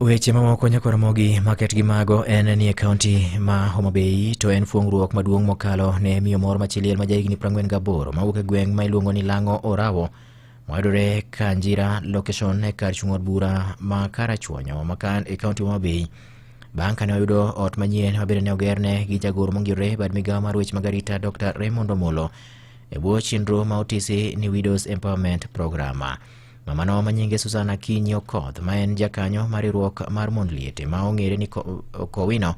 Weche mamoko nyakoromogi maket gi mago en ni e kaunti ma Homa Bay to en fuong'ruok maduong' mokalo ne miyo moro machiliel ma jahigni 48 mawuok e gweng' ma iluongo ni Lang'o Orawo mayudore Kanjira location e kar chung' od bura ma Karachuonyo ma kan e kaunti Homa Bay bang' kane oyudo ot manyien ma bende ne ogerne gi jagoro mongirore bad migawo mar weche mag arita Dr. Raymond Omolo e bwo chenro ma otisi ni Widows Empowerment Program. Mamano ma nyinge Susan Akinyi Okoth ma en jakanyo mar riwruok mar mond liete ma ong'ere ni Kowino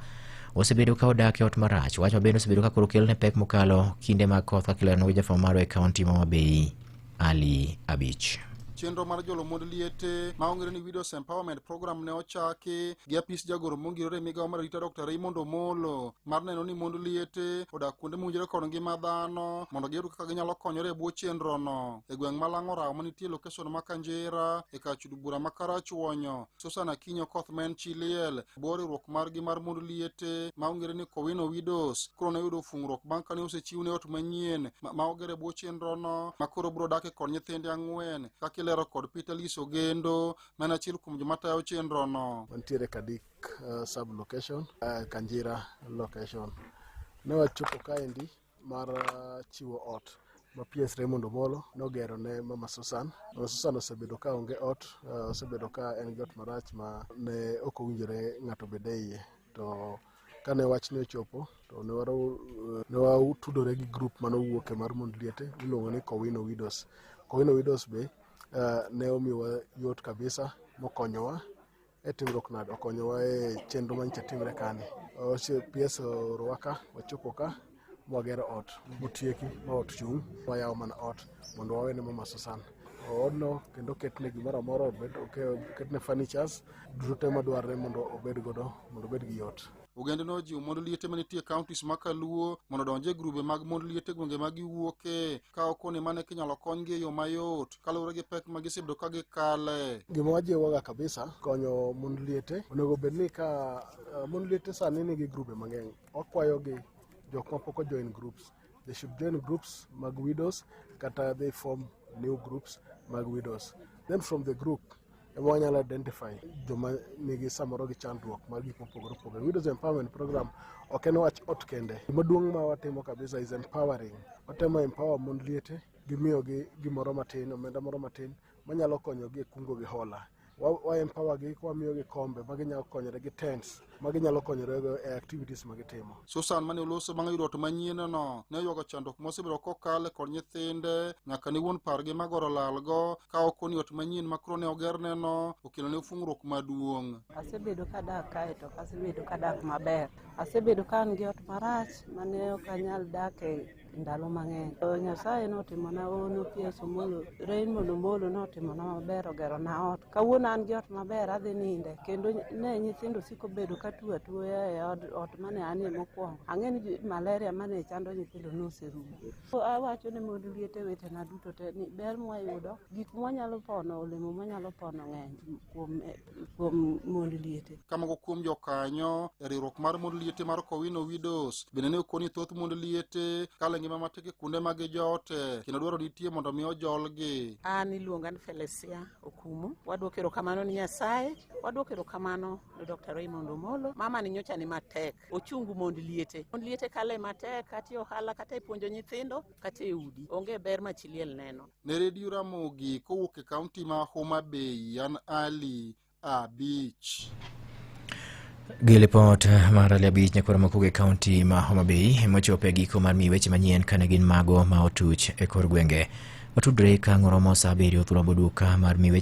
osebedo ka odak e ot marach. Wach ma bende osebedo ka koro kelne pek mokalo kinde mag koth kaka ilero gi jafwambo marwa e kaunti ma Mabei Ali Abich. chenro mar jolo mond liete ma ong'ere ni widows empowerment program ne ochaki gi apis jagoro mongirore e migawo mar arita dr raymond omolo mar neno ni mond liete odak kuonde mowinjore kod ngima dhano mondo giyud kaka ginyalo konyore e bwo chenrono e gweng' ma Lang'orawo ma nitie lokeson ma Kanjira e kar chud bura ma Karachuonyo. Susan Akinyi Okoth ma en chi liel bor riwruok margi mar mond liete ma ong'ere ni Kowino Widows koro ne oyudo fungruok bang' kane osechiwne ot manyien ma, ma ogere bwo chenrono ma koro biro dake kod nyithinde ang'wen kaka ilero kod Peter Lis Ogendo ma en achiel kuom joma tayo chenrono. wantiere Kadik uh, sub location uh, Kanjira location ne wachopo kaendi mar uh, chiwo ot ma PS Raymond Omolo nogero ne Mama Susan. Mama Susan osebedo ka onge ot, uh, osebedo ka en gi ot marach ma ne ok owinjore ng'ato bede iye. To kane wachni ochopo to ne uh, watudore gi grup mane owuok e mar mond liete miluongo ni Kowino Widows. Kowino Widows be ne omiwa yot kabisa mokonyowa e timruok nade okonyowa e chenro manyicha timre kani PS orowa ka wachopo ka mwagero ot motieki ma ot chung' wayawo mana ot mondo wawene mama Susan odno kendo ketne gimoro amora obed ketne furnitures duto te madwarre mondo obed godo mondo obed gi yot ogende nojiwo mond liete manitie counties ma kaluo mondo odonje grube mag mond liete gwenge ma giwuoke ka okone mane kinyalo konygi e yo mayot kaluwore gi pek ma gisebedo ka gikale gima wajiwoga kabisa konyo mond liete onego bed ni ka uh, mond liete sani nigi grube mang'eny wakwayogi jok ma pok ojoin groups they should join groups mag widows kata they form new groups mag widows then from the group ema wanyalo identify joma nigi samoro gi chandruok mar gik mopogore opogore. Widows Empowerment Program ok en wach ot kende. Gimaduong' ma watimo kabisa is empowering. Watemo empower mond liete gimiyogi gimoro matin, omenda moro matin manyalo konyogi e kungo gi hola. Wa, wa empower gi kwamiyogi kombe ma ginyalo konyore gi tents ma ginyalo konyorego e activities ma gitimo. Susan mane oloso bang' yudo ot manyienno ne oywago chandruok mosebedo kokale kod nyithinde nyaka ne wuon pargi ma goro lalgo ka ok oni ot manyien ma koro ne ogerneno okelo ne fung'ruok maduong'. Asebedo kadak kae to asebedo kadak maber. Asebedo ka an gi ot marach mane ok anyal dak e ndalo mang'eny. To Nyasaye notimona ono PS Omolo, Raymond Omolo notimona maber ogero na ot. Kawuono an gi ot maber adhi ninde kendo ne nyithindo siko bedo ka tuo atuoya e od, ot mane anie mokwongo. Ang'e ni ju- malaria mane chando nyithindo noserumo. So awacho ne mond liete wetena duto te ni ber mwayudo, gik mwanyalo pono, olemo mwanyalo pono ng'eny kuom eh, kuom mond liete. Ka moko kuom jokanyo e riwruok mar mond liete mar Kowino Widows bende ne okoni thoth mond liete kale ngima matek e kuonde ma gijote kendo dwaro nitie mondo mi ojolgi. An iluonga ni Felesia Okumu. Wadwoko erokamano ni Nyasaye, wadwoko erokamano ni Dr. Raymond Omolo. Mama ni nyocha ni matek, ochungu mond liete. Mond liete kale matek kata e ohala kata e puonjo nyithindo. kata e udi onge ber ma chi liel neno. Ne redio Ramogi kowuok e kaunti ma Homa Bay, an Ali Abich. Gi lipot mar Ali Abich nyakoro makuge kaunti ma Homa Bay emochopo e giko mar mi weche manyien kane gin mago ma otuch e kor gwenge. Watudre ka ng'oromo sa abiriyo thurombo duka mar mi weche